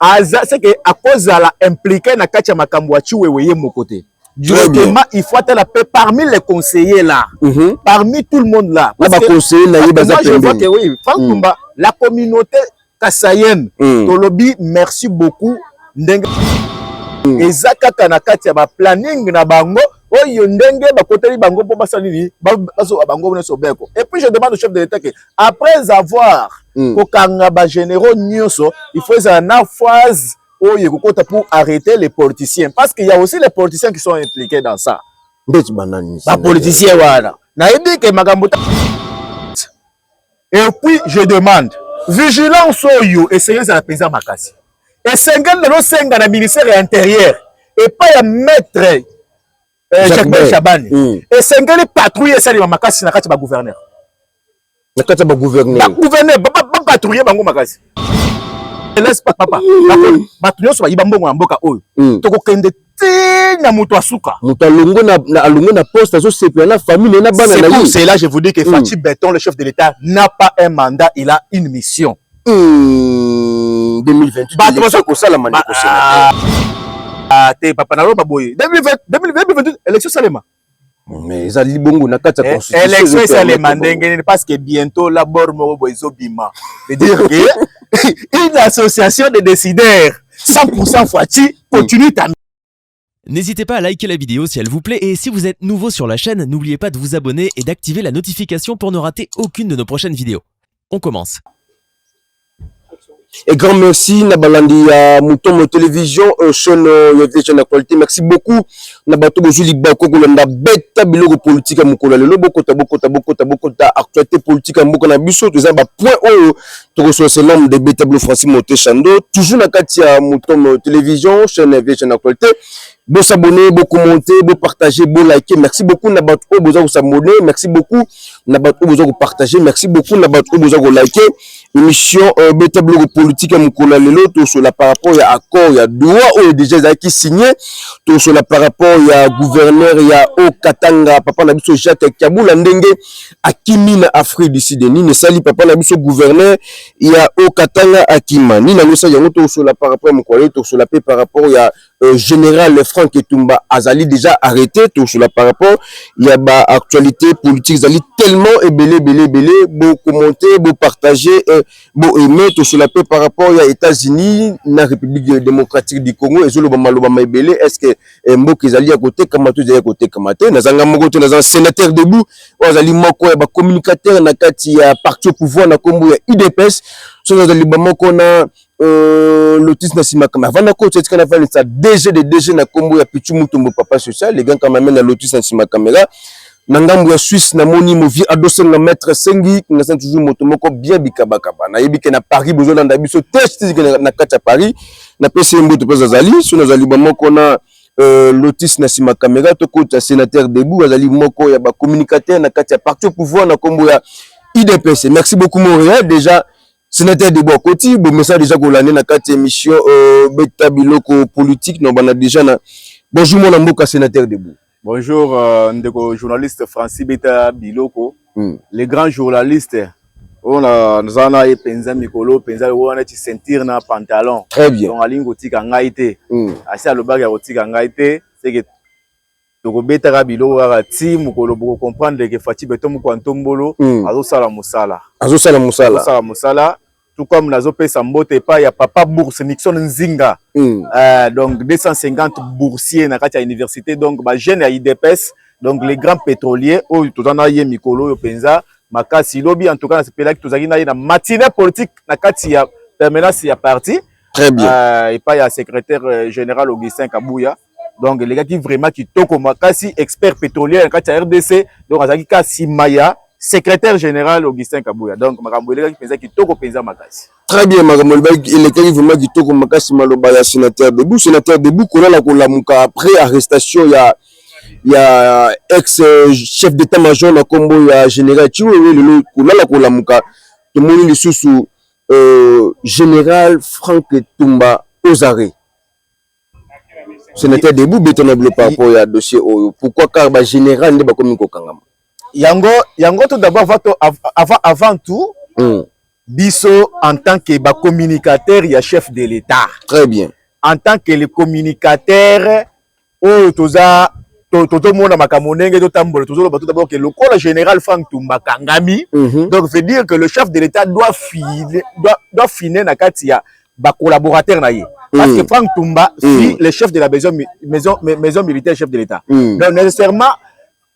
aza seke akozala implique na kati ya makambo ya Chiwewe ye moko te directement il faut atala pe parmi les conseillers là mm -hmm. parmi tout le monde là na ba conseillers na ye baza pembe oui Franck mm. Tumba la communauté kasayenne mm. tolobi merci beaucoup ndenge mm. eza kaka na kati ya ba planning na bango oyo ndenge bakoteli bango mpo basala nini bazoba bango nyonso beko et puis je demande au chef de l'état que après avoir mm. kokanga bagénéraux nyonso il faut ezala na phase oyo ekokota pour arrêter les politiciens parce qu'il y a aussi les politiciens qui sont impliqués dans ça ndeti banani bapoliticien wana nayebi ke makambo Et puis je demande vigilance oyo esengeli ezala mpenza makasi, esengeli nazosenga na ministère ya interieur epai ya maître eh, Jacques Chabani mm. esengeli patrouille esalema makasi na kati ya bagouverneur na kati ya bagouverneur bagouverneur bapatrouille bango makasi papa bato nyonso bayiba mbongo ya mboka oyo mm. tokokende ti na moto asuka moto alongo na, na alongo na poste azosepela na famille naye na bana na ye c'est là je vous dis que mm. Fatshi Beton le chef de l'État n'a pas un mandat il a une mission mm. 2028 bato bazo kosala maneko ah, ah, te papa na loba boye 2028 élection salema mais ezali bongo na kati ya eh, constitution élection esalema ndenge nini parce que bientôt la bord moko boye ezobima veut dire que une association de décideurs 100% Fatshi continue ta N'hésitez pas à liker la vidéo si elle vous plaît et si vous êtes nouveau sur la chaîne, n'oubliez pas de vous abonner et d'activer la notification pour ne rater aucune de nos prochaines vidéos. On commence. Et grand merci na balandi ya Mutombo Télévision euh, chaîne euh, ya Vision Actualité. Merci beaucoup na bato bozwi libako kolanda beta biloko politique ya mokolo ya lelo bokota bokota bokota bokota actualité politique ya mboka na biso toza ba point oyo tokosola se nombre de beta bilo Francis Mote Chando toujours na kati ya Mutombo Télévision chaîne ya Vision Actualité. Bo s'abonner, bo commenter, bo partager, bo liker. Merci beaucoup na bato oyo boza ko s'abonner. Merci beaucoup na bato oyo boza ko partager. Merci beaucoup na bato oyo boza ko liker. Émission euh, beta blogo politique ya mokolo ya lelo tosola par rapport ya accord ya Doha oyo déjà ezalaki signé. Tosola par rapport ya gouverneur ya Haut Katanga papa na biso Jacques Kabula ndenge akimi na Afrique du Sud. Nini esali papa na biso gouverneur ya Haut Katanga akima. Nini yango esali yango tosola par rapport ya mokolo ya lelo tosola pe par rapport ya Euh, général Franck Etumba azali déjà arrêté tout cela par rapport il y a ba actualité politique zali tellement ebele ebele ebele bo commenter bo partager euh, bo aimer tout cela peut par rapport il y a États-Unis na République démocratique du Congo ezolo ba maloba ma ebele est-ce que euh, mboka ezali ya côté kama tout ezali ya côté kama te nazanga moko te nazanga sénateur debout azali moko ya ba communicateur na kati ya parti au pouvoir na kombo ya UDPS soki azali ba moko na Euh, lotus na simaka mais avant nako tsetika na vani sa DG de DG na kombo ya Pichu Mutombo papa social les gars quand même na lotus na simaka mais là na ngambo ya Suisse na moni mo vie adosen na maître sengi nga sa toujours moto moko bien bikaba kaba na yebi ke na Paris bozo landa biso test na kati ya Paris na pesi mboto pesa zali so na zali ba moko na euh, lotus na sima kamera to kota sénateur debout azali moko ya ba communicateur na kati ya parti au pouvoir na kombo ya IDPS merci beaucoup mon réel déjà Senateur Debo Akoti, bon message déjà kolande na kati émission euh, beta biloko politique na bana déjà na Bonjour mon mboka Senateur Debo. Bonjour euh, ndeko journaliste Francis Beta Biloko, hmm. le grand journaliste oyo naza na ye mpenza mikolo mpenza lokola wana ti ceinture na pantalon très bien donc alingi kotika ngai te hmm. asi alobaki ya kotika ngai te seke tokobetaka biloko kaka ti mokolo boko comprendre que Fatshi beton moko ya ntombolo mm. azosala mosala azosala mosala azosala mosala tout comme nazopesa mbote epai ya papa bourse nixon nzinga mm. uh, donc 250 boursier na kati ya université donc bajeune ya idps donc les grands pétroliers oyo toza na ye mikolo oyo mpenza makasi lobi en tout cas nasepelaki tozalaki na ye na matinée politique na kati ya permanence ya parti très bien uh, epai ya secrétaire euh, général augustin kabuya donc elekaki vraiment kitoko makasi expert petrolier na kati ya rdc donc azalaki ka nsima ya secrétaire général augustin kabuya donc makambo elekaki mpenza kitoko mpenza makasi très bien makambo elekaki vraiment kitoko makasi maloba ya sénateur debout sénateur debout kolala kolamuka après arrestation ya ya ex chef d'état major na nkombo ya général chiwewe lelo kolala kolamuka tomoni lisusu euh, général frank tumba ozare Senateur Debout beton na bino par rapport ya dossier oyo pourquoi car ba general nde bakomi kokangama yango yango tout d'abord avant to- av- avant avant tout Hmm, biso en tant que ba communicateur ya chef de l'État très bien en tant que le communicateur oyo toza to- tozomona makambo ndenge totambola tozoloba tout d'abord que lokola général Franck Tumba akangami Mhm. donc veut dire que le chef de l'État doit filer doit, doit finer na kati ya ba collaborateurs na ye parce que Franck Tumba si le chef de la maison maison maison militaire chef de l'État donc nécessairement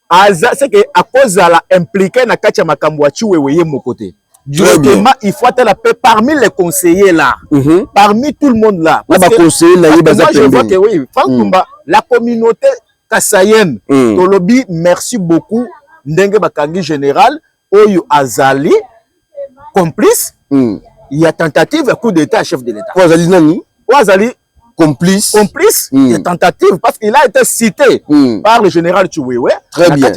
aza c'est que akozala impliqué na kati ya makambo ya Chiwewe ye moko te directement il faut atala pe parmi les conseillers là mm -hmm. parmi tout le monde là parce que, conseiller, là, parce que moi je vois que oui Franck mm. Tumba la communauté kasayenne mm. tolobi merci beaucoup ndenge bakangi général oyo azali complice mm. ya tentative ya coup d'état ya chef de l'état oyo azali nani oyo azali complice complice mm. ya tentative parce qu'il a été cité mm. par le général Chiwewe très bien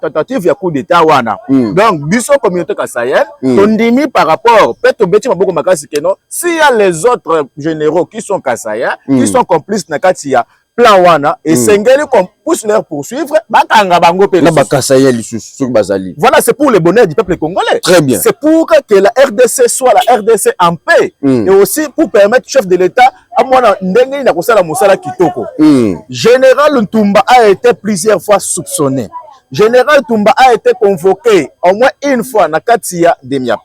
tentative ya coup d'état wana mm. donc biso communauté kasayel mm. tondimi par rapport pe tobeti maboko makasi keno si ya les autres généraux qui sont kasayens mm. qui sont complices na kati ya plan wana hmm. esengeli mm. qu'on puisse leur poursuivre bakanga bango pe na bakasa ya lisusu soki bazali voilà c'est pour le bonheur du peuple congolais très bien c'est pour que la RDC soit la RDC en paix mm. et aussi pour permettre chef de l'État à moi ndenge na kosala musala kitoko mm. général Ntumba a été plusieurs fois soupçonné général Ntumba a été convoqué au moins une fois na Katia Demiap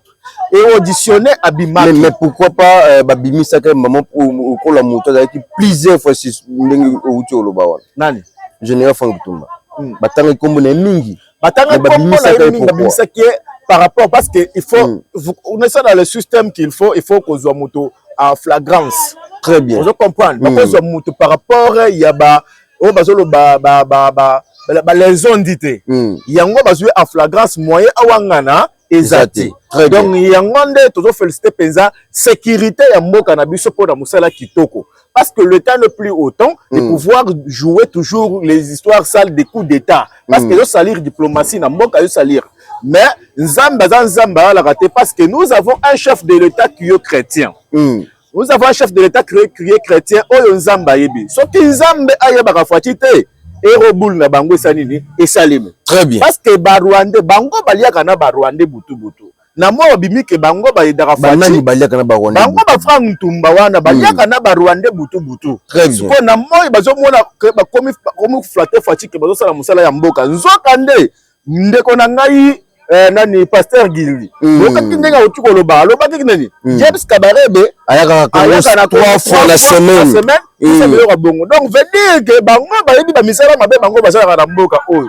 et auditionné abimaki mais, mais pourquoi pas euh, babimisaka ye mama okola moto azalaki plusieurs fois si ndenge outi oloba wana nani général frank tumba hmm. batangaki nkombo na ye mingi batangaki nkombo na ye mingi babimisaki ye par rapport parce que il faut hmm. on est ça dans le système qu'il faut il faut kozwa moto en flagrance très bien ozo comprendre hmm. bakozwa moto par rapport ya ba oyo bazoloba ba ba ba ba ba les ont dit te yango bazwi en flagrance moyen awangana eza te donc yango nde tozo félicité mpenza sécurité ya mboka na biso mpo na mosala kitoko parce que le temps ne plus autant mm. de pouvoir jouer toujours les histoires sales des coups d'état parce mm. que ezosalir diplomatie na mboka ezosalir mais nzambe aza nzambe ayalaka te parce que nous avons un chef de l'état qui est chrétien mm. Nous avons un chef de l'État créé, créé chrétien oyo Nzambe ayebi. Soki Nzambe ayebaka Fatshi te, ero boule na bango esa nini esalemi. Très bien. Parce que ba Rwandais bango baliaka na ba Rwandais butu butu. Na mwa babimi ke bango bayedaka Fatshi. Banani baliaka na ba Rwandais? Bango ba Frank Ntumba wana baliaka mm. na ba Rwandais butu butu. Très bien. Siko na moi bazomona ke bakomi komi flatter Fatshi ke bazosala mosala ya mboka. Nzoka nde ndeko na ngai eh, nani pasteur gilli mm. okaki ndenge auti koloba alobaki nani mm. james kabarebe ayaka na trois fois na semaine hmm. biloko ya bongo donc veut dire que bango bayebi bamisala mabe bango basalaka na mboka oyo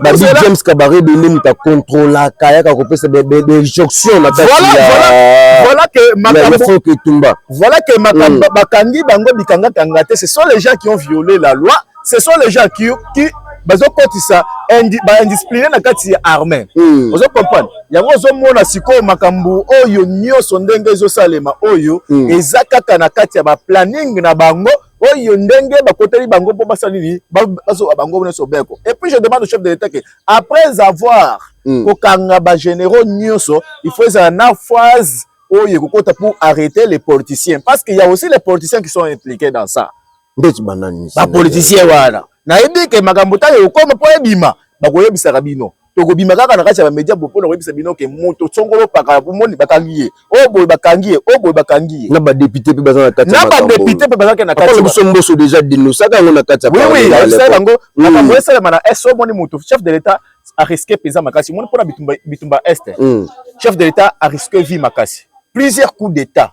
babi james kabarebe nde moto akontrolaka ayaka kopesa bejonction na katiyafoke etumba voilà que hmm. bakangi bango bikangakanga te ce sont les gens qui ont violé la loi ce sont les gens qui, qui bazokotisa baindiscipline na kati ya armée mm. ozo comprendre yango ozomona sikoyo makambo oyo nyonso ndenge ezosalema oyo mm. eza kaka na kati ya baplanning na bango oyo ndenge bakoteli bango mpo basala nini bazoba bango nyonso beko et puis je demande au chef de l'état que après avoir mm. kokanga bagénéraux nyonso il faut ezala na phase oyo ekokota pour arrêter les politiciens parce qu'il y a aussi les politiciens qui sont impliqués dans ça ndeti banani bapolitisien wana nayebi ke makambo ntango ekokoma mpo ebima bakoyebisaka bino tokobima kaka na kati ya bamedia mpo na koyebisa bino ke moto songolo pakala bomoni bakangi ye oyo oh, boye bakangi ye oyo oh, boye bakangi ye na badepute mpe baza na kati na badepute mpe bazalaki na kati biso mboso deja denosaka yango na kati ya oui ayebisaki bango hmm. makambo esalema na est omoni moto chef de l'etat ariske mpenza makasi omoni mpo na bitumba bitumba est hmm. chef de l'etat ariske vie makasi plusieurs coups d'état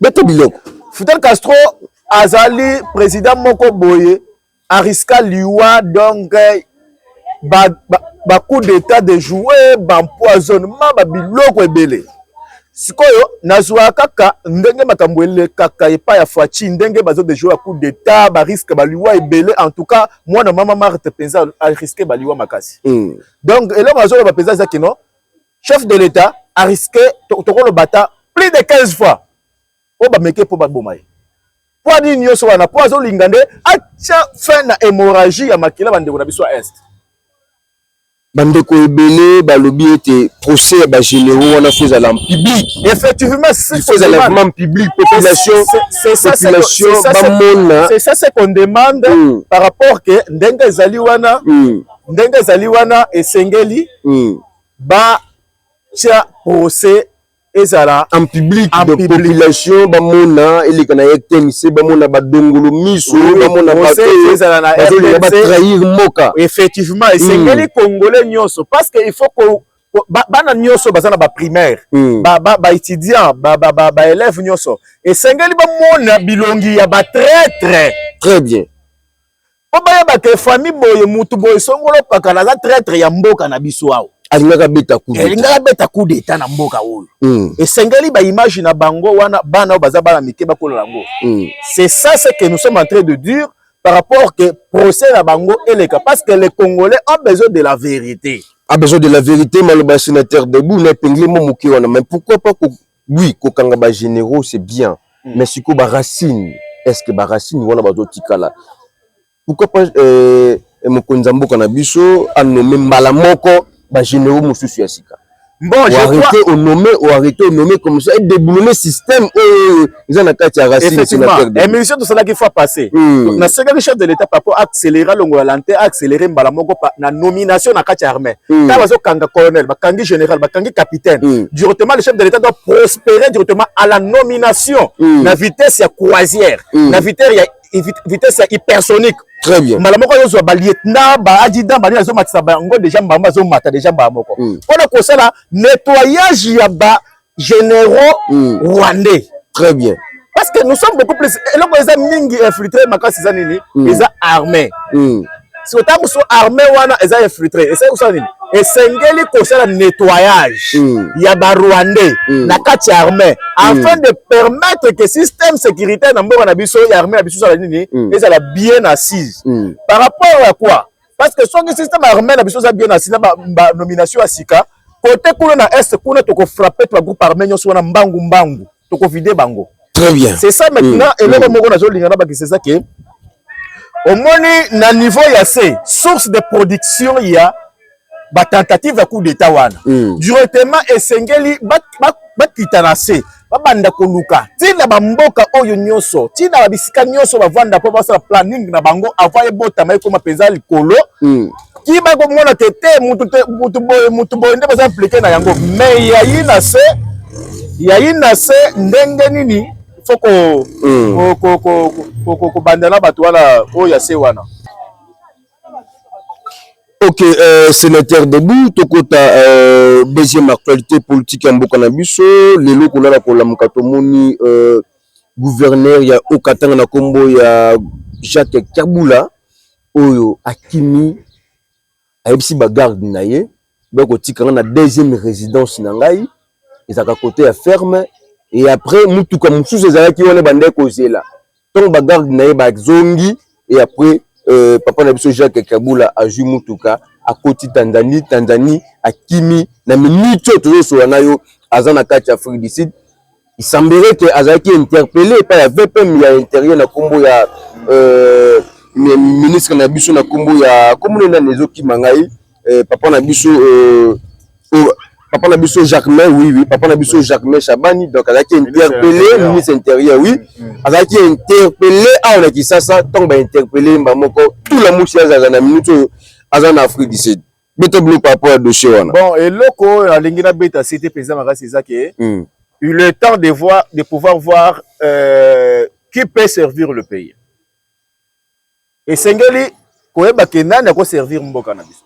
bete biloko fidel castro azali président moko boye ariska liwa donc ba, ba, ba coup d'état de jouer bampoisonnement babiloko ebele sikoyo nazwa kaka ndenge makambo elekaka epai ya faci ndenge bazo dejoue ya coup d'état bariske baliwa ebele en tout cas mwana mama marte mpenza ariske baliwa makasi mm. donc eloko nazoloba mpenza eza kino chef de l'etat a risque tokoloba ata plus de 15 fois oyo bameke mpo baboma ye mpo anini nyonso wana mpo azolinga nde atya fin na hémorragie ya makila bandeko na biso ya est bandeko ebele balobi ete procès ya bagénéraux wana fo ezala en public effectivementfo ezala vraiment en public population population bamona c'est ça ce qu'on demande mm. par rapport ke ndenge ezali wana mm. ndenge ezali wana esengeli mm. ba tia procès ezala en public de population bamona eleka na RTNC bamona badongolo miso bamona bazolinga batrahir mboka effectivement hmm. esengeli congolais nyonso parce que il faut ko bana nyonso baza na baprimaire hmm. baétudiant baélève nyonso esengeli bamona bilongi ya batraitre très bien po bayeba ke famille boye mutu boye songolo pakala aza traitre ya mboka na biso awa alingaka beta coup d'etat alingaka beta coup d'etat na mboka oyo mm. esengeli ba image na bango wana bana oyo baza bana mike bakola yango mm. c'est ça ce que nous sommes en train de dire par rapport que procès na bango eleka parce que les congolais ont besoin de la vérité a besoin de la vérité maloba ya sénateur debout na epengeli mo moke wana mais pourquoi pas Oui kokanga ba generaux c'est bien mais sikoyo ba racines est ce que ba racines wana bazo tikala? Pourquoi pas mokonzi ya mboka na biso a nommer mbala moko ba generaux mosusu ya sika? Bon, je arrêter crois... nommer, ou arrêter au nommer comme ça, et déboulonner système oyo eza na kati ya racine sénateur. Effectivement, émission tosalaki fois passée, mm. na sekaki chef de l'État par rapport acte accéléré alongola lente accéléré mbala moko na nomination na kati ya armée ntango hmm. bazokanga colonel bakangi général bakangi capitaine hmm. directement le chef de l'état doit prospérer directement à la nomination hmm. na vitesse ya croisière na vitesse ya vitesse ya hypersonique très bien mbala moko ayozwa balieutenant baadjudant balingi azomatisa bango déjà mbamba azomata déjà mbala moko mpona kosala nettoyage ya ba généraux mm. rwandais très bien parce que nous sommes beaucoup plus eloko eza mingi infiltré makasi eza nini mm. eza armée mm. siko ntango mosusu armée wana eza infiltré esali kosala nini esengeli kosala nettoyage mm. ya barwandais mm. na kati ya armée mm. afin mm. de permettre que système sécuritaire na mboka na biso ya armée na biso ezala nini mm. ezala bien assise mm. par rapport ya quoi parce que soki système armé na biso eza bien asina ba, ba nomination ya sika kote kuna na est kuna toko frapper to groupe armé nyonso wana mbangu mbangu toko vider bango très bien c'est ça maintenant mm. eloko mm. moko nazo linga na bakisa eza que omoni na niveau ya se source de production ya ba tentative ya coup d'état wana mm. directement esengeli bakita ba, ba na se babanda koluka ti na bamboka oyo nyonso ti na babisika nyonso bavanda mpo basala planning na bango avant ebotama ekoma mpenza likolo mm. ki bakomona te te motu boye motu boye nde baza implike na yango mai yayi na se yayi na se ndenge nini fo kobanda hmm. na bato wana oyo ya se wana Ok euh, senateur debout tokota euh, deuxième actualité politique ya mboka na biso lelo kolala kolamuka tomoni euh, gouverneur ya Okatanga na kombo ya Jacques Kabula oyo akimi ayebisi ba garde na ye donc kotika nga na deuxième résidence na ngai ezalaka kote ya ferme et après mutuka mosusu ezalaki wana ebandaki kozela ntango bagarde na ye bazongi et après euh, papa na biso jacques kabula azwi mutuka akoti tanzanie tanzanie akimi na minute oyo tozosola na yo aza na kati ya afrique du sud Il semblerait que azalaki interpellé epai ya VPM ya interieur na kombo ya euh, ministre na biso na kombo ya kombo nani nani ezokima ngai euh, papa na biso euh, oh, papa na biso Jacquemin oui oui papa na biso Jacquemin Shabani donc azalaki interpellé ministre intérieur oui mm, mm. azalaki interpellé awa na Kisasa ntango ba interpellé mba moko tout la musi azaza na minute oyo aza na Afrique du Sud beta biloko par rapport ya dossier wana bon eloko oyo nalingi nabeta sete mpenza makasi eza ke mm. il est temps de, voir, de pouvoir voir euh, qui peut servir le pays esengeli koyeba ke nani akoservir mboka na biso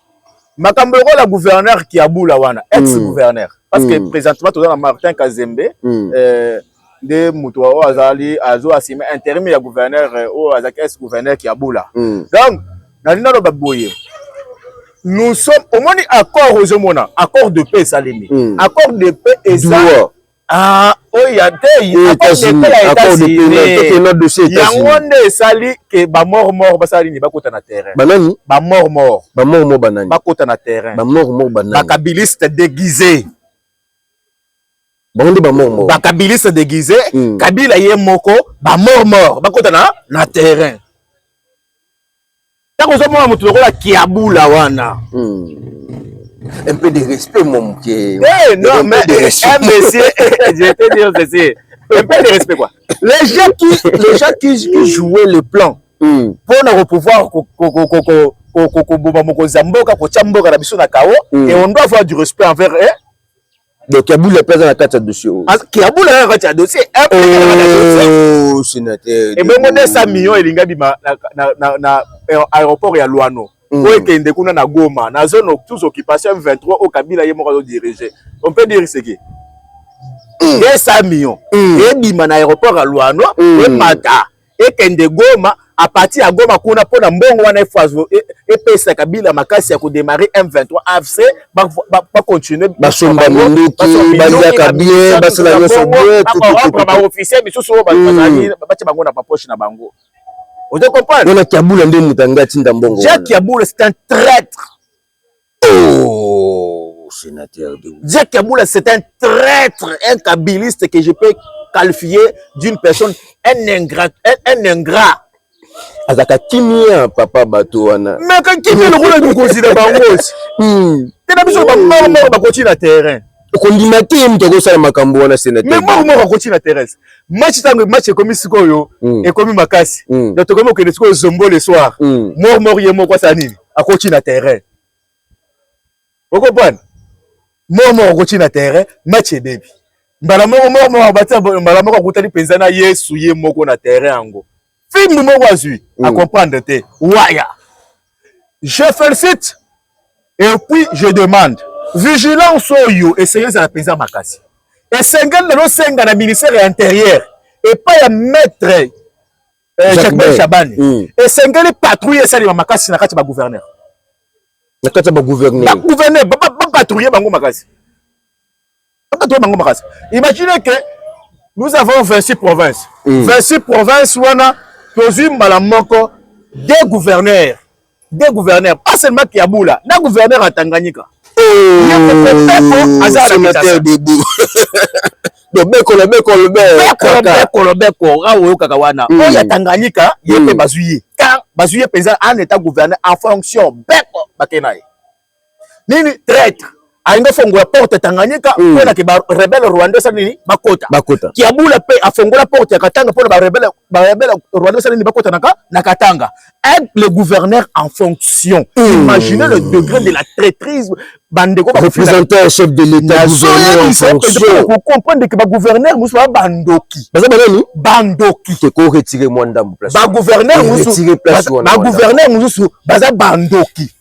makambo lokola gouverneur kiabula wana ex gouverneur mm. parce que mm. présentement toza na martin kazembe mm. euh, nde moto oyo azali azwi asime interim ya gouverneur oyo azalaki ex gouverneur kiabula mm. donc nalingi naloba boye nous sommes omoni accord ozomona accord de paix esalemi mm. accord de paix eza ah, oyo ya te yango nde esali ke bamor mor basala nini bakota na terrain banani bamor mor bamor mor banani bakota na terrain bamor mor banani bakabiliste déguisé bango nde bamormor bakabiliste deguise mm. kabila ye moko bamormor bakota na, na terrain ntango ozomona moto lokola kiabula wana mm. un peu de respect mon moke hey, eh, non mais eh, eh, monsieur je te dire ceci un peu de respect quoi les gens qui les gens qui, qui jouaient le plan mm. pour na pouvoir ko, ko, ko, ko, ko, koboma mokonzi ya mboka kotya mboka na biso na kao mm. et on doit avoir du respect envers eh? Donc Kiabula pesa na kati ya dossier oyo. Parce Kiabula na kati ya dossier. Eh, eh, oh, sénateur. Et bongo 200 millions elinga bima na na na, na eh, aéroport ya Luano. Mm. Oyo ekende kuna na Goma, na zone tous occupation 23 au Kabila ye moko azo diriger. On peut dire ce qui 200 mm. millions. Mm. Ebima na aéroport ya Luano, mm. emata. ekende Goma à partir ya Goma kuna mpo na mbongo wana e, epesa Kabila makasi ya kodemare M23 AFC bacontinue basomba minduki baliaka bien basala nyonso bien bakorendre baofficier misusu oyo hmm. batya bango na bapoche na bango ozo comprendre wana kiabula nde moto yango atinda mbongo jacques kiabula c'est un traître Oh, sénateur de Jack Kabula, c'est un traître, un kabiliste que je peux qualifier d'une personne, un ingrat, un, un ingrat. azaka kimia papa bato wana meka kimia lokola mikonzi na bango te na biso bamama bakoki na terrain okondima te ye moto akosala makambo wana senatmoko moko akoti na terese match ntango match ekomi sikoyo mm. ekomi makasi mm. donc tokomi kokende sikoyo zombo le soir mm. mor mor ye moko asala nini akoti na terrain okopana mor moko akoti na terrain match ebebi mbala moko mor moko abatia mbala moko akutani mpenza na yesu ye moko na terrain yango fimbu moko azwi mm. a comprendre te waya je félicite et puis je demande vigilance oyo esengeli ezala mpenza makasi esengeli na losenga na ministère ya intérieur epai ya maître eh, jacques chabani mm. esengeli patrouille esalema makasi na kati ya bagouverneur na kati ya bagouverneur bagouverneur bapatrouille bango makasi Kaka to bango makasi. Imaginez que nous avons 26 provinces. Mm. 26 provinces wana tozui mbala moko deux gouverneurs. Deux gouverneurs, pas seulement Kiabula, na gouverneur ya Tanganyika. Oh, aza na Kinshasa. lobeko lobeko lobeko lobeko awa oyokaka wana oyo ya tanganyika ye mpe bazwi ye car bazwi ye mpenza en état gouverneur en fonction beko bake na ye nini traitre alingi afongola porte ya Tanganyika hmm. mpo na ke barebele rwanda esala nini bakota bakota Kiabula mpe afongola porte ya Katanga mpo na barebele barebele rwanda esala nini bakota na na Katanga aide le gouverneur en fonction hmm. imaginez le degré de la traîtrise bandeko représentant chef de l'état gouverneur en fonction ko comprendre que ba gouverneur musu ba bandoki baza ba nani bandoki te ko retirer mwa ndambo place ba gouverneur musu ba gouverneur musu baza bandoki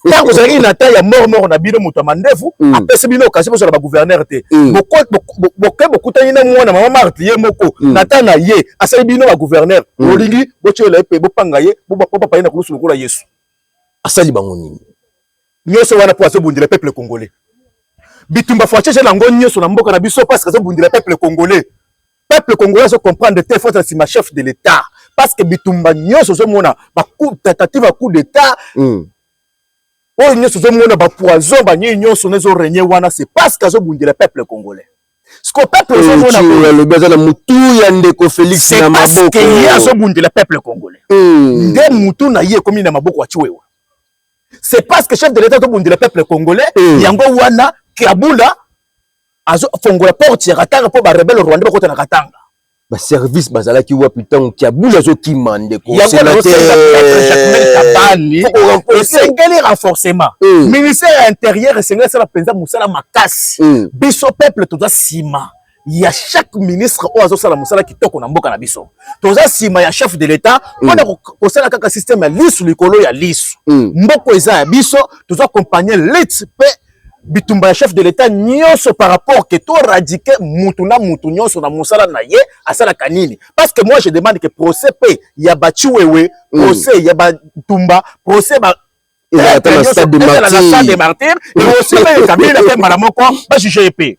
ntango ozalaki na ta ya mor mor na bino moto ya mandefu mm. apesi bino okasi bozala bagouverneur te mm. boke bokutani na mwana mama marte ye moko mm. na ta na ye asali bino bagouverneur bolingi botyolela ye mpe bopanga ye bopapa ye na kulusu lokola yesu asali bango nini nyonso wana mpo azobundela peuple congolais bitumba facheche na yango nyonso na mboka na biso parce azobundela peuple congolais peuple congolais azo comprendre te faut asima chef de l'etat parce que bitumba nyonso ozomona tentative ya coup d'état mm. oyo nyonso ozomona bapoison banini nyonso na ezoregne wana c'est parce que azobundela peuple congolais siko peuple ozomona aza na mutu ya ndeko félix na maboko ye azobundela peuple congolais mm. nde mutu na ye ekomi na maboko ya chiwewa c'est parce que chef de l'état azobundela peuple congolais mm. yango wana kabula azo fongola porte ya Katanga mpo ba rebelle rwandais bakota na Katanga. Ba service bazalaki wapi ntango Kiabula azokima ndeko Kabani esengeli renforcement eh. ministère ya intérieur esengeli asala mpenza mosala makasi eh. biso peuple toza nsima ya chaque ministre oyo azosala mosala kitoko na mboka na biso toza nsima ya chef de l'etat mpona mm. kosala kaka systeme ya lisu likolo ya lisu mm. mboko eza ya biso toza compagnie lite mpe bitumba ya chef de l'etat nyonso par rapport que to radike mutu na mutu nyonso na mosala na ye asalaka nini parce que moi je demande que procès pe ya bachiwewe mm. procès ya batumba procès ba ezalaka na stade de martyr et aussi pe kabila pe mbala moko bajuge ye pe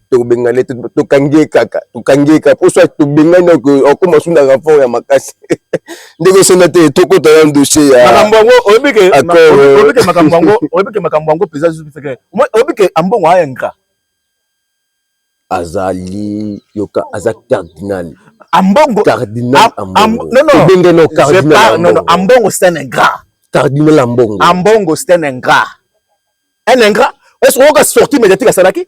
tokobengana te tokangi ye kaka tokangi ye kaka mpo soit tobengani akoma su na renfort ya makasi ndenge osenda te tokota ya dossier ya makambo yango oyebi ke oyebi ke makambo yango oyebi ke makambo yango mpenza lisusu feke oyebi ke ambongo aya ngra azali yoka aza cardinal ambongo cardinal ambongo non non obenge no cardinal non non ambongo c'est un ingrat cardinal ambongo ambongo c'est un ingrat un ingrat est-ce que oyoka sortie médiatique asalaki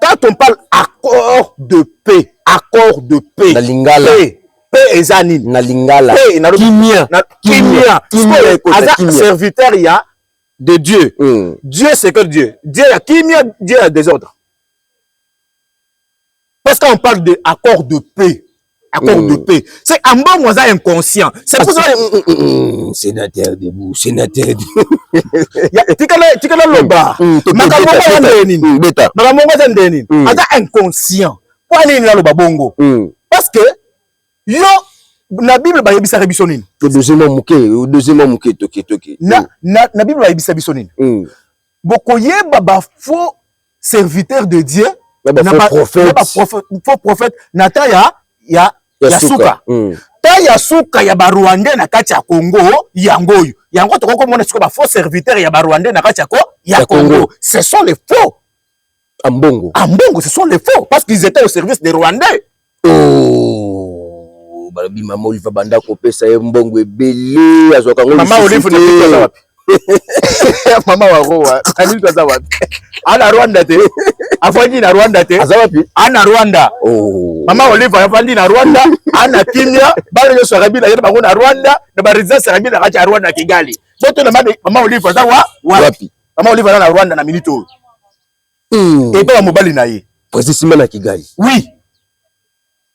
quand on parle accord de paix accord de paix na lingala paix pe eza nini na lingala kimia kimia aza serviteur ya de dieu mm. dieu c'est que dieu dieu ya kimia dieu ya désordre parce qu'on parle de accord de paix accord mm. de paix c'est ambongo aza inconscient c'est pour ça sénateur debout sénateur tikala tikala loba makambo ngo aza ndenge nini makambo ngo aza ndenge nini aza inconscient mpo anini naloba bongo mm. parce que yo na bible bayebisaka biso nini deuxièmement moke deuxièmement moke toke toke na, mm. na, na bible bayebisa biso nini mm. bokoyeba bafaux serviteur de Dieu na ba faux prophète na ta ya ya ya suka hmm. ta ya suka ya ba rwandais na kati ya Congo yango oyo yango tokoki komona siko ba faux serviteur ya ba rwandais na kati ya ko ya Congo ce sont les faux ambongo ambongo ce sont les faux parce qu'ils étaient au service des rwandais Oh, balobi mama Olive abanda kopesa ye mbongo ebele azwaka yango mama Olive na biso aza wapi mama wa roa nani aza wapi ana Rwanda te afandi na Rwanda te aza wapi ana Rwanda oh. mama Olive afandi na Rwanda ana kimia bana nyonso ya Kabila yena bango na Rwanda na ba residence ya Kabila kati ya Rwanda Kigali boto na mama Olive aza wapi mama Olive aza na Rwanda na minute oyo hmm. epa ya mobali na ye presi sima na kigali oui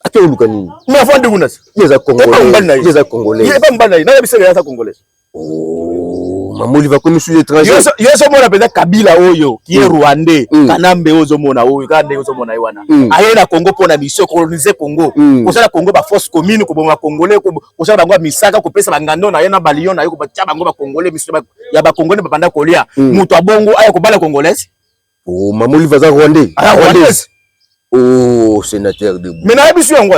ake oluka nini mais avant de kuna yeza congolais epa mobali na ye yeza congolais epa mobali na ye naya bisaka yasa congolais oh, mamoli vakomi sous étranger yo ozomona mpenza kabila oyo ki ye hmm. rwandais hmm. kanambe oyo ozomona oyo kaka ndenge ozomona ye wana aye na congo mpo na mission colonise congo kosala congo baforce commune koboma congolais kosala bango ya misaka kopesa bangando na ye na balion na ye kobatya bango bakongole misu ya bakongole babanda kolia hmm. moto abongo aya kobala congolaise oh, mamolive aza rwandais ah, rwandaise Oh, sénateur de Mais na biso yango.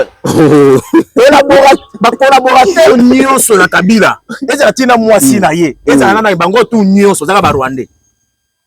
Ba collaborateur nyonso na Kabila. Ezala tina mwasi na ye. Ezala na bango tout nyonso zaka ba Rwandais.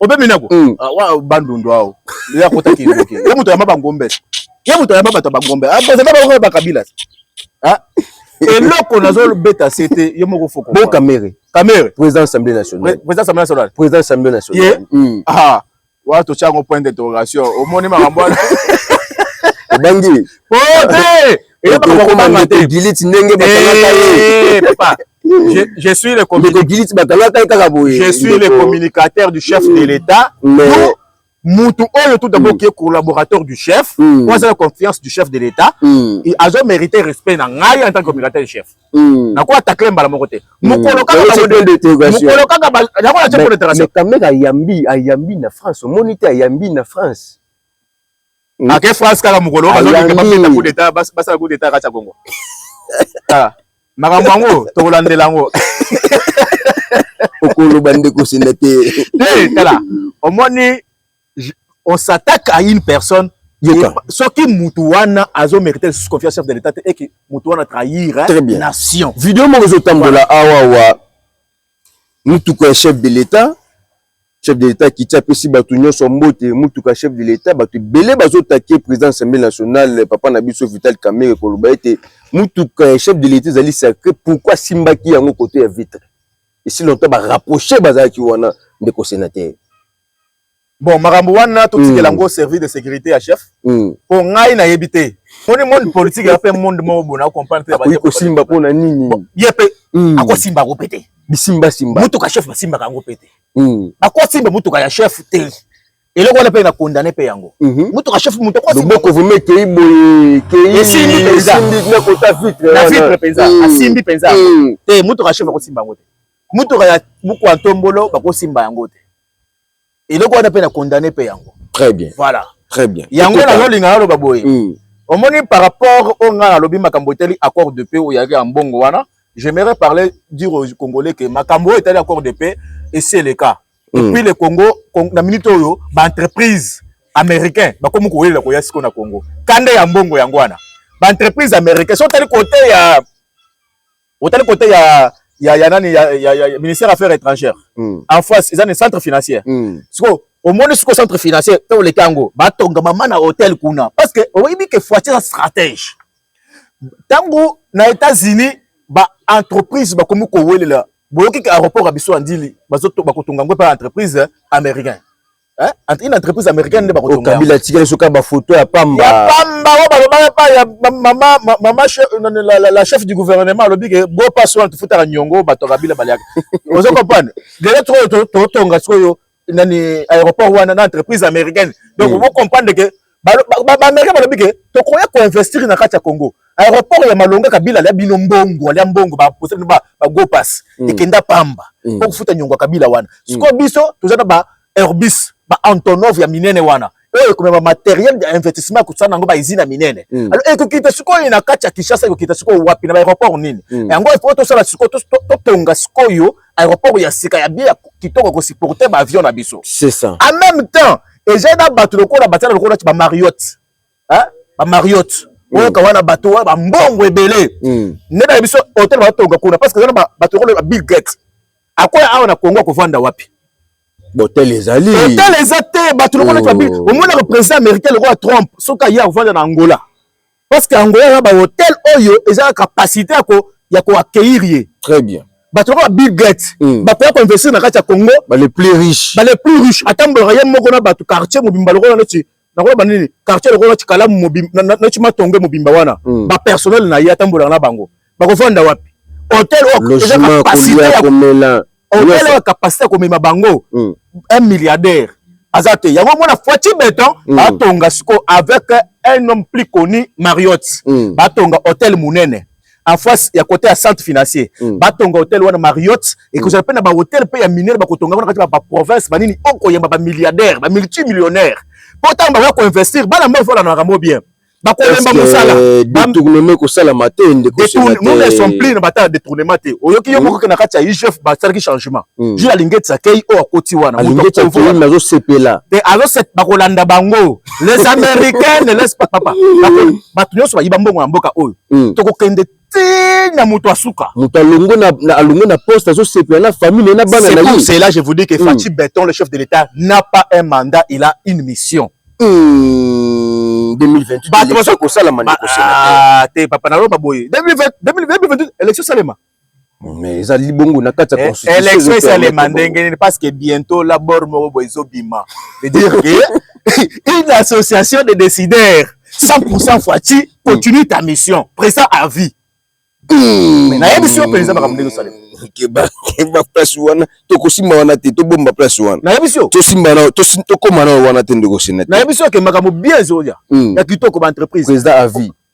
obemi nako mm. ah, wa bandundu ao ye akota kindoki ye moto yamba bangombe ye moto yamba bato ya bangombe akozala ah, bango bakabila ah, eloko nazobeta se te yo moko foko bo kamere kamere président assemblée nationale président assemblée nationale président assemblée nationale mm. ah wa totya yango point d'interrogation omoni makambo wana obangi po te Je, suis le communicateur du chef de l'État. mutu oyo tout d'abord qui est collaborateur du chef mm. aza na confiance du chef de l'état mm. azo mérité respect na ngai en tant que communicateur du chef mm. nakoya takle mbala moko te mm. mokolo kaka nakoya ce point d'interrogation mais quand même ayambi ayambi na france omoni te ayambi na france hmm? ake france kaka mokolo bazoleka babeta coup d'état basala coup d'état kati ya congo ah, makambo yango tokolandela yango okoloba nde kosenda te te tala omoni on s'attaque à une personne soki mutu wana azo mérite lisusu confiance chef de l'état te eke mutu wana trahir nation video moko ezotambola awawa Mutuka ya chef de l'etat, chef de l'etat akiti apesi batu nionso mbote, mutuka chef de l'etat batu ebele bazo taquer president ya assemblee nationale papa na biso Vital Kamerhe koloba ete mutuka ya chef de l'etat ezali sacre pourquoi asimbaki yango cote ya vitre? Esi longtemps ba rapprocher bazalaki wana ndeko senateur. bon makambo wana totikela yango mm. service de sécurité ya chef mm. mpo ngai nayebi te moni monde politique ya mpe monde moko bona okomprendre te kosimba mpo na nini ye mpe mm. akosimba yango mpe te bisimbasimba motuka chef basimbaka yango mpe te bakosimba motuka ya chef te eloko wana mpe na condamne mpe yango mhm. motuka chef moto akoboko vraimen ekei boye keisimbi mpenza na kota vitre na vitre mpenza asimbi mpenza te motuka chef akosimba yango te motuka ya buku ya ntombolo bakosimba yango te eloko wana mpe na condamne mpe yango très bien voilà très bien yango nazolinga naloba boye mm. omoni par rapport oyo ngai nalobi makambo etali accord de paix oyo yaki ya mbongo wana j'aimerais parler dire aux congolais que makambo oyo etali accord de paix esi eleka mm. epuis le congo na minute oyo baentreprise américain bakomi kowelela koya siko na congo kanda ya mbongo yango wana baentreprise américain so otali kote ya otali kote ya ya ya nani ya, ya, ya ministère ya affaires étrangères mm. en face eza ni centre financier mm. siko omoni siko centre financier mpe oleki yango batonga mama na hôtel kuna parce que oyebi ke foiti eza stratège ntango na états-unis baentreprise bakomi kowelela boyoki ke aéroport ya biso ya ndili bakotonga yango mpe entreprise américain Hein? Une entreprise américaine nde bakotonga. Okambila atikali soki ba photo ya pamba. Ya pamba oyo balobaka pa ya mama mama la, la, la chef du gouvernement alobi ke bo pas soin tufutaka nyongo bato ya kabila baliaka. Ozo comprendre? Lelo to totonga sikoyo nani aéroport wana na entreprise américaine. Donc mm. vous comprendre que baamerikain balobi ke tokoya koinvestir na kati ya congo aéroport ya malonga kabila alya bino mbongo alya mbongo baposa bino bagopas mm. ekenda pamba mm. po kofuta nyongo ya kabila wana mm. sikoyo biso toza na ba airbus ba antonov ya minene wana oyo ekomema materiel ya investissement ya kosala nango baizine ya minene mm. alors ekokita sikoyo na kati ya kinshasa ekokita sikoyo wapi na baaéroport nini mm. yango ifo tosala sikoyo totonga sikoyo aéroport ya sika ya bie ya kitoko kosupporte baavion na biso en même temps eja na bato lokola batiana lokola nati bamariotte bamariotte hmm. oyoka wana bato wana bambongo ebele hmm. nde na biso hotel batonga kuna parce que eza na bato lokola babill gate akoya awa na kongo akovanda wapi hotel ezali hotel eza te bato lokola nati babill oh. omonaka président américain lokola trump soki aye akovanda na angola parce que angola eza ba hotel oyo eza na capacité ya ko ya ko accueillir ye très bien bato lokola bill gates mm. bakoya koinvestir na kati ya congo bale plus riche bale plus riche atambolaka ye moko na bato quartier mobimba lokola neti nakoloba nini quartier lokola neti kalamu neti matonge mobimba wana mm. bapersonnel na ye atambolaka na bango bakofanda wapi hotel oyo eza capacité ya komela okola capacité ya komema bango mm. un milliardaire aza te yango mona foiti beton mm. atonga siko avec un homme plus connu mariotte mm. batonga hôtel monene en face ya côté ya centre financier mm. batonga hôtel wana mariotte ekozala mpe na bahotel mpe ya minene bakotonga wana kati ya baprovince banini okoyamba bamilliardaire bamultimillionnaire mpo ntango bakoya koinvestir bana mbe ozolanaka yango bien bakolemba mosala detournement ekosalama te ndekonon ya somplire na batala detournement te oyoki yo moko ke na kati ya igf basalaki changement hmm. ju alingeti akei oyo akoti wana azosepela bakolanda bango les américains ne laisse pas papa bato nyonso bayiba mbongo ya mboka oyo hmm. tokokende te na moto asuka moto alongo na, na alongo na poste azosepela na famille naye na bana na ye c'est là je vous dis que mm. Fatshi Beton le chef de l'État n'a pas un mandat il a une mission mm. 2028 bato bazo kosala maneko ah, te papa na loba boye 2028 élection salema mais ezali bongo na kati ya constitution election esalema ndenge nini parce que bientôt la bord moko boye ezobima dire que une association de décideurs 100% Fatshi continue ta mission président à vie hmm. nayebisi yo mpenza makambo ndenge osalema keba keba place wana tokosimba wana te tobomba place wana nayebisi yo tosimba na tokoma na wana te ndeko senete nayebisi yo ke makambo bien ezoya hmm. ya kitoko ba entreprise président à vie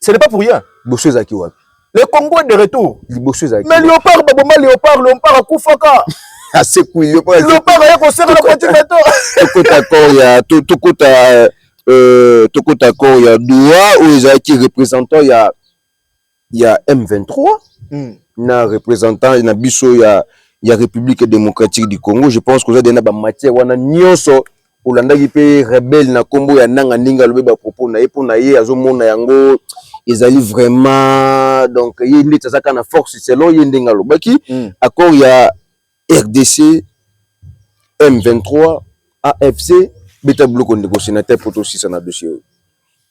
Ce n'est pas pour rien. Bosso ezaki wapi? Le Congo est de retour. Libosso ezaki. Mais Léopard baboma Léopard, Léopard akufaka. Asekui Léopard. Léopard aya koseka na petit bateau. Tokota corps ya tokota euh tokota corps ya Doha oyo ezalaki représentant ya ya M23 mm. na représentant na biso ya ya République démocratique du Congo. Je pense que vous avez des matières wana nyoso olandaki mpe rebelle na kombo ya nanga ndenge alobi ba propos na ye mpo na ye azomona yango ezali vraiment donc ye ndeti azaka na force selon ye ndenge alobaki mm. accord ya rdc m23 afc beta biloko ndeko sénateur mpo tosisa na dossier oyo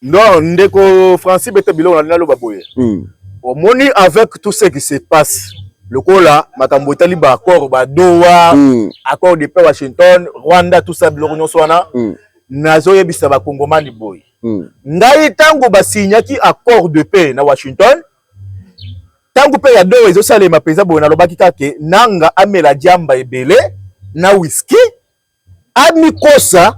Non, ndeko Francis bete biloko na nalo baboye. Mm. Omoni avec tout ce qui se passe lokola makambo etali ba accord ba Doha, mm. accord de paix Washington, Rwanda tout ça biloko nyonso wana. Mm. Nazoyebisa ba Kongomani boye. Mm. Ngai tango ba signaki accord de paix na Washington, ntango mpe ya doo ezosalema mpenza boye nalobaki kaka ke nanga amela diamba ebele na whisky amikosa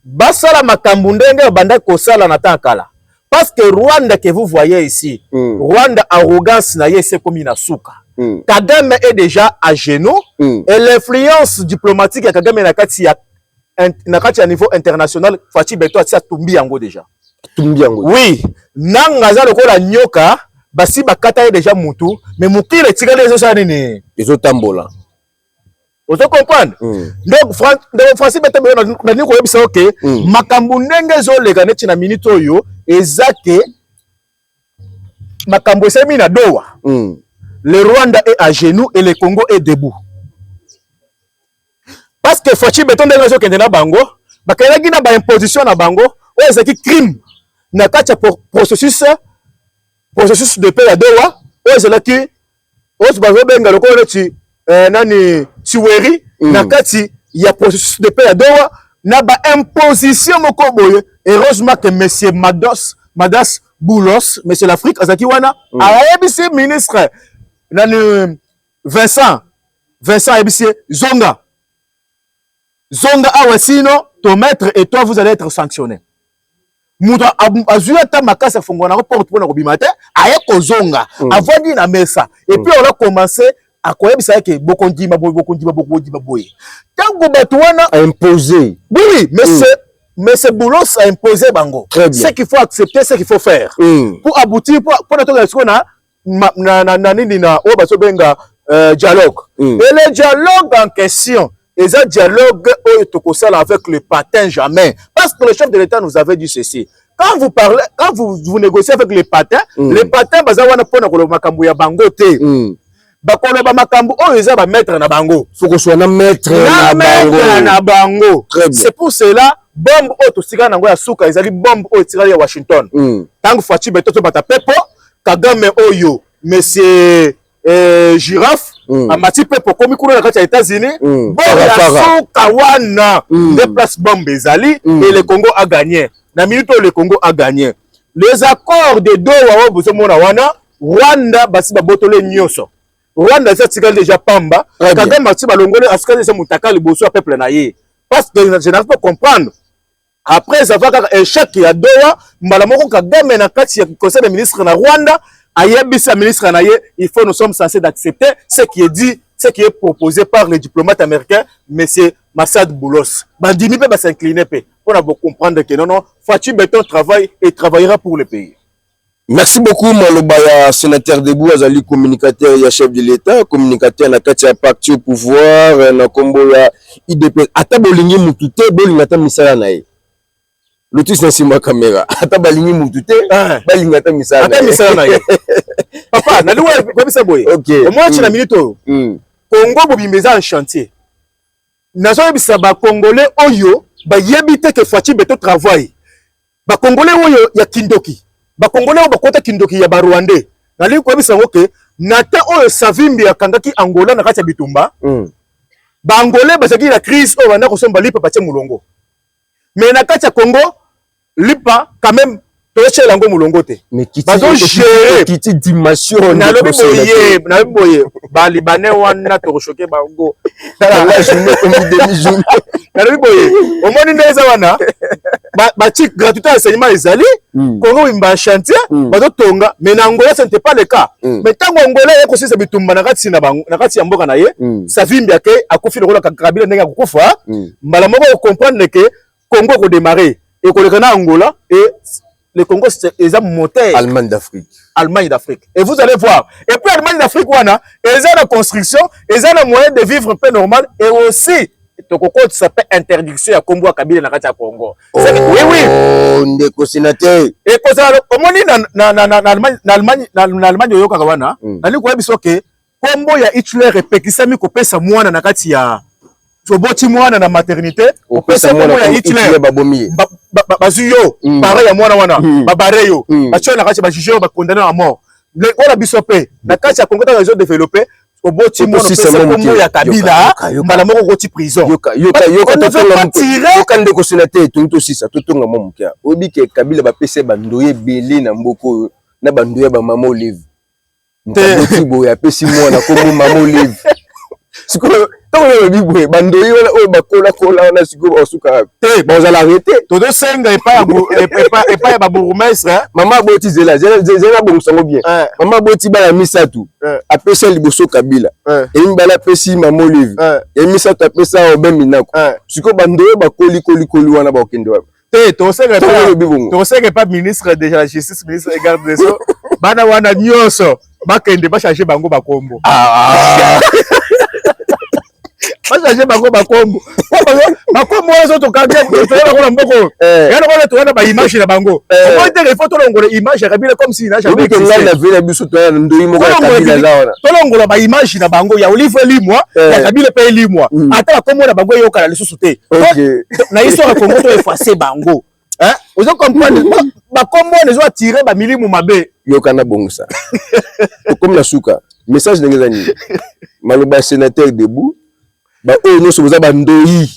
basala makambo ndenge abandaki kosala na temps kala parce que Rwanda que vous voyez ici mm. Rwanda arrogance na ye esekomi na suka mm. Kagame est déjà à genoux mm. et l'influence diplomatique ya Kagame na kati ya na kati ya niveau international Fatshi Beton atia tumbi yango déjà tumbi yango oui nanga aza lokola nyoka basi bakata ye déjà mutu mais mokili etikali ezosala nini ezotambola ozo comprendre mm. donc Fran ndeko français bete boyo nalingi koyebisa yo ke mm. makambo ndenge ezoleka neti na minute oyo eza ke makambo esalemi na dowa mm. le rwanda est à genoux et le congo est debout parce que faci beton ndenge azokende na bango bakendaki na baimposition na bango oyo ezalaki crime na kati ya processus processus de paix ya dowa oyo ezalaki oyo bazobenga lokola neti eh, nani chiweri mm. na kati ya processus de paix ya dowa na baimposition moko boye heureusement ke monsieur mados madas boulos monsieur l'afrique azalaki wana mm. ayebisi ministre nani vincent vincent ayebisi ye zonga zonga awa sino ton maître et toi vous allez être sanctionné moto azwi ata makasi afongola nango porte mpo na kobima te aye kozonga mm. avandi na mesa epuis mm. ola commence akoyebisa yeke bokondima boye bokondima bokondima boye ntango bato wana impose oui mais mm. c'est mais c'est boulos a imposé bango ce qu'il faut accepter ce qu'il faut faire mm. pour aboutir mpo na tokela sikoyo na ma, na, na, na nini na oyo bazobenga euh, dialogue mm. et le dialogue en question eza dialogue oyo tokosala avec le patin jamais parce que le chef de l'état nous avait dit ceci quand vous parlez quand vous, vous négociez avec les patins mm. les patins baza wana mpona koloba makambo ya bango te mm. bakoloba makambo oyo eza bamaître na bango fokoswa na maître na bango c'est pour cela bombe oyo totikala na yango ya suka ezali bombe oyo etikali ya washington ntango mm. faci beto tobata mpepo Kagame oyo monsieur eh, Giraffe mm. amati mpe pokomi kuna na kati ya États-Unis mm. boya suka wana mm. nde place bombe ezali mm. et le Congo a gagné na minute oyo le Congo a gagné les accords de Doha oyo bozomona wana Rwanda basi babotole nyonso Rwanda esi atikali deja pamba Kagame asi balongoli asikali eza motaka liboso ya peuple na ye parce que je n'arrive pas comprendre Après ça va kaka échec ya Doha, mbala moko Kagame na kati ya conseil des ministres na Rwanda, ayebisa ministre na ye, il faut nous sommes censés d'accepter ce qui est dit, ce qui est proposé par le diplomate américain, monsieur Massad Boulos. Bandimi pe ba s'incliner pe. On a beau comprendre que non, non, Fatih Beton travaille et travaillera pour le pays. Merci beaucoup maloba ya sénateur Debout azali communicateur ya chef de l'État, communicateur na kati ya parti au pouvoir euh, na kombo ya IDP. Ata bolingi mutu te, bolinga ata misala na ye. Lotus na nsima kamera. Ata balingi mutu te, ah. balinga ata misala. Ata misala na ye. Papa, na liwa koyebisa boye. Okay. Omwachi na mm. minute oyo. Mm. Congo bobimba eza en chantier. Nazoyebisa ba Congolais oyo bayebi te ke Fatshi Beton travaille. ba congolais oyo ya kindoki ba congolais oyo bakota kindoki ya ba rwandais nalingi koyebisa yango ke na temps oyo savimbi akangaki angola na kati ya bitumba mm. ba angolais bazalaki na crise oyo banda kosomba lipa batie molongo mais na kati ya congo lipa quand même totyela yango molongo te bazogere nalobi boye nalobi boye ba libanais wana toko choquer bango tala la journée comme demi journée nalobi boye omoni nde eza wana ba chic gratuité enseignement ezali hmm. kongo bimba chantier hmm. bazo tonga mais na angola ce n'était pas le cas hmm. mais tango angola ye kosisa bitumba na kati na bango na kati ya mboka na ye savimbi ake akufi lokola kabila ndenge akokufa mbala moko okomprendre ke Congo ko démarrer et koleka na Angola et le Congo eza moteur Allemagne d'Afrique Allemagne d'Afrique et vous allez voir et puis Allemagne d'Afrique wana eza na construction eza na moyen de vivre peu normal et aussi tokokotisa mpe interdiction ya nkombo ya kabila na kati ya congo oh, ndeko senateur ekozala omoni na allemagne oyokaka wana hmm. nalingi koyebi soke kombo ya Hitler epekisami kopesa mwana na kati ya toboti mwana na maternité opesa kombo ya Hitler bazwi yo mm. pare ya mwana wana mm. babare yo mm. batyo yo na kati bajuge yo bakondane na mort wana biso mpe na kati ya kongo ntango ezo developpe oboti mwana opesa kombo ya kabila mbala moko okoti prisonyoka nde kosila te tongi tosisa totonga mwa moke oyebi ke kabila bapesa ye bandoye ebele na mboka oyo na bandoye ya bamama olive mokaboti boye apesi mwana kombo mama olive sikoyo ntango olobi boye bandoyi wana oyo bakolakola wana sikoyo baosuka te bazala arrete tozosenga epai ya babourgmestre eh? mama aboti zela zela abongisa yango bien eh. mama aboti bana misato eh. apesa liboso kabila ya mibale apesi mama olive ya misato apesa obe minako sikoyo bandoyi bakoli kolikoli wana bakokende wapi te tokoseka tokoseka epa ministre de la justice ministre de garde des sceaux bana wana nyonso bakende bachange bango bakombo ah. bachange bango bakombo bakombo oyo tokanga bango na mboko eh. ya lokola towana baimage na bango eh. omoi te il faut tolongola image ya kabila comme si nage tolongola baimage na bango ya olive elimwa ya eh. kabila mpe elimwa hmm. ata bakombo na bango eyokana lisusu te na histoire ya congo to efface bango ozo comprendre bakombo wana ezo attire bamilimu mabe yoka na bongisa tokomi na suka message ndenge eza nini maloba ya sénateur debout baoyo nyonso boza bandoyi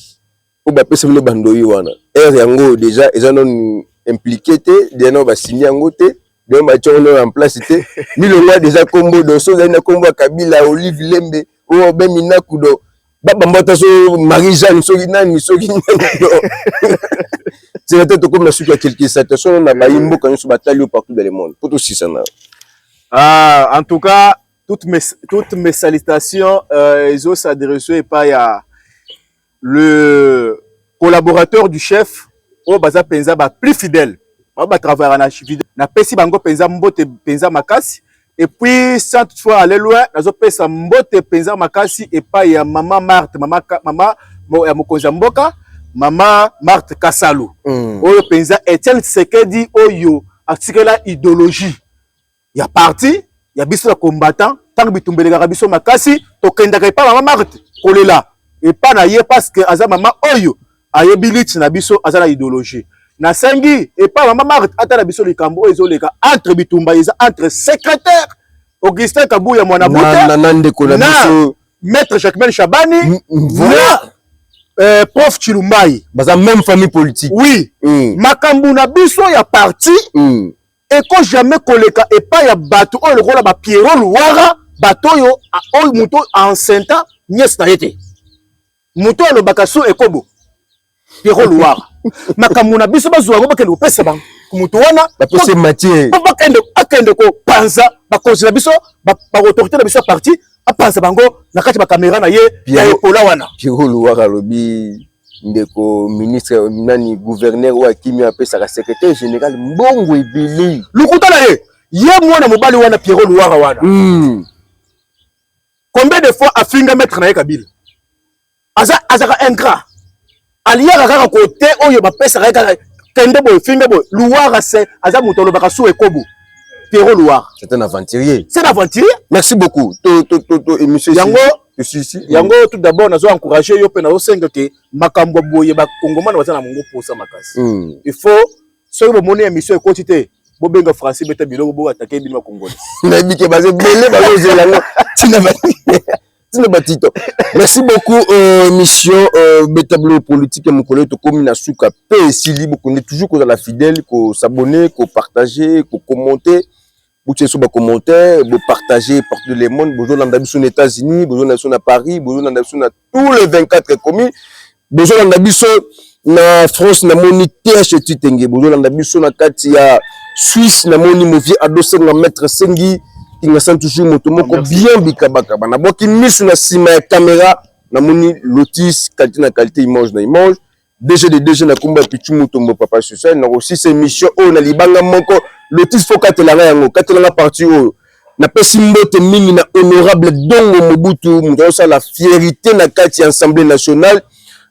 oyo bapesa bino bandoyi wana ere yango deja eza nanu implike te deja nao basimi yango te deja batya yango nao en place te milongwa deja kombo doso ozali na kombo ya kabila olive lembe oyo obe minakudo babambata so marie jeanne soki nani soki nzela te tokomi na suki ya quelque station na bayi mboka nyonso batali yo partout dans le monde mpo tosisana ah, en tout cas toutes mes, toutes mes salutations euh, ezo s'adresse epai ya le collaborateur du chef oyo baza mpenza ba plus fidèle baoyo batravaillaka na fidèle napesi bango mpenza mbote mpenza makasi Et puis, sans toutefois aller loin, nazo pesa mbote penza makasi epai ya mama Marthe, mama, mama ya mokonzi ya mboka, mama Marthe Kasalu. Mm. Oyo penza Etienne Tshisekedi oyo atikela idéologie ya parti ya biso ya combattant ntango bitumbelekaka biso makasi tokendaka epai mama Marthe kolela epai na ye parce que aza mama oyo ayebi liti na biso aza na ideologie nasengi epai mama marte atala biso likambo oyo ezoleka entre bitumba eza entre secrétaire augustin kabuya mwana buta na ndeko na biso maître jacquemaine shabani voilà. euh, prof chilumbai baza même famille politique oui mm. makambo na biso ya parti mm. eko jamais koleka epai ya bato oyo lokola ba pierrot luwara bato oyo oyo moto aensenta niese na ye te moto alobaka so ekobo Pierrot Loire makambo na biso bazwa yango bakende kopesa bango moto wana bapese matière po bakende akende kopanza bakonzi na biso baautorité na biso ya parti apanza bango na kati ya bakamera na ye ya epola wana Pierrot Loire alobi ndeko ministre nani gouverneur oyo akimi apesaka secrétaire général mbongo ebele lokuta na ye ye mwana mobali wana Pierrot Loire wana mm. Combien de fois afinga maître na ye Kabila? Aza azaka ingrat. Aliaka kaka kote oyo bapesaka ye kaka kende boye finga boye. Luwara se aza moto alobaka su ekobo. Pierrot Luwara. C'est un aventurier. C'est un aventurier. Merci beaucoup. To to to to émission yango esisi yango tout d'abord nazo encourager yo mpe nazo senga ke makambo boye bakongomana baza na mongo mposa makasi mm. il faut soki bomoni émission ekoti te bobenga français beta biloko bo atake bino bakongole nayebi ke baze bele bazozela yango ntina ntina batito merci beaucoup euh, émission euh, beta biloko politique ya mokolo oyo tokomi na suka mpe esili bokonde toujours kozala fidèle kosabonne kopartage kokommente botia biso bacommentaire bopartage partout de le monde bozolanda biso na états-unis bozolanda biso na paris bozolanda biso na tous les 24 communes bozolanda biso na france namoni th titenge bozolanda biso na kati ya suisse namoni movie adosenga maître sengi kingasani toujours moto moko bien bikabakaba nabwaki miso na nsima ya kamera namoni lotis qualité na qualité image na image DG de DG na kombo ya Pichu Mutombo Papa Susa na kosisa emission oyo na libanga moko Lotis fo katela nga yango katela nga parti oyo napesi mbote mingi na honorable Dongo Mobutu moto azosala fierite na kati ya Assemblée nationale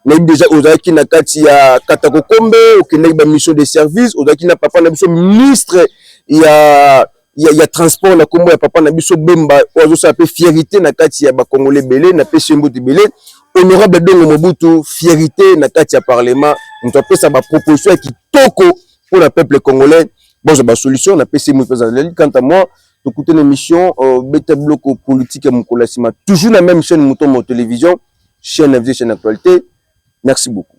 nayebi deja ozalaki na kati ya Katakokombe okendaki ba mission de service ozalaki na papa na biso ministre ya ya, ya transport na kombo ya papa na biso Bemba oyo azosala mpe fierite na kati ya bakongole ebele na pesi ye mbote ebele honorable Dongo Mobutu fierite na kati ya parlement moto apesa baproposition ya kitoko mpo na peuple congolais bozwa basolution na pesi ye moto ezaleli kanta moi tokuti na émission euh, beta biloko politique ya mokolo ya nsima toujours na même chaîne moto mo télévision chaîne invité chaîne actualité merci beaucoup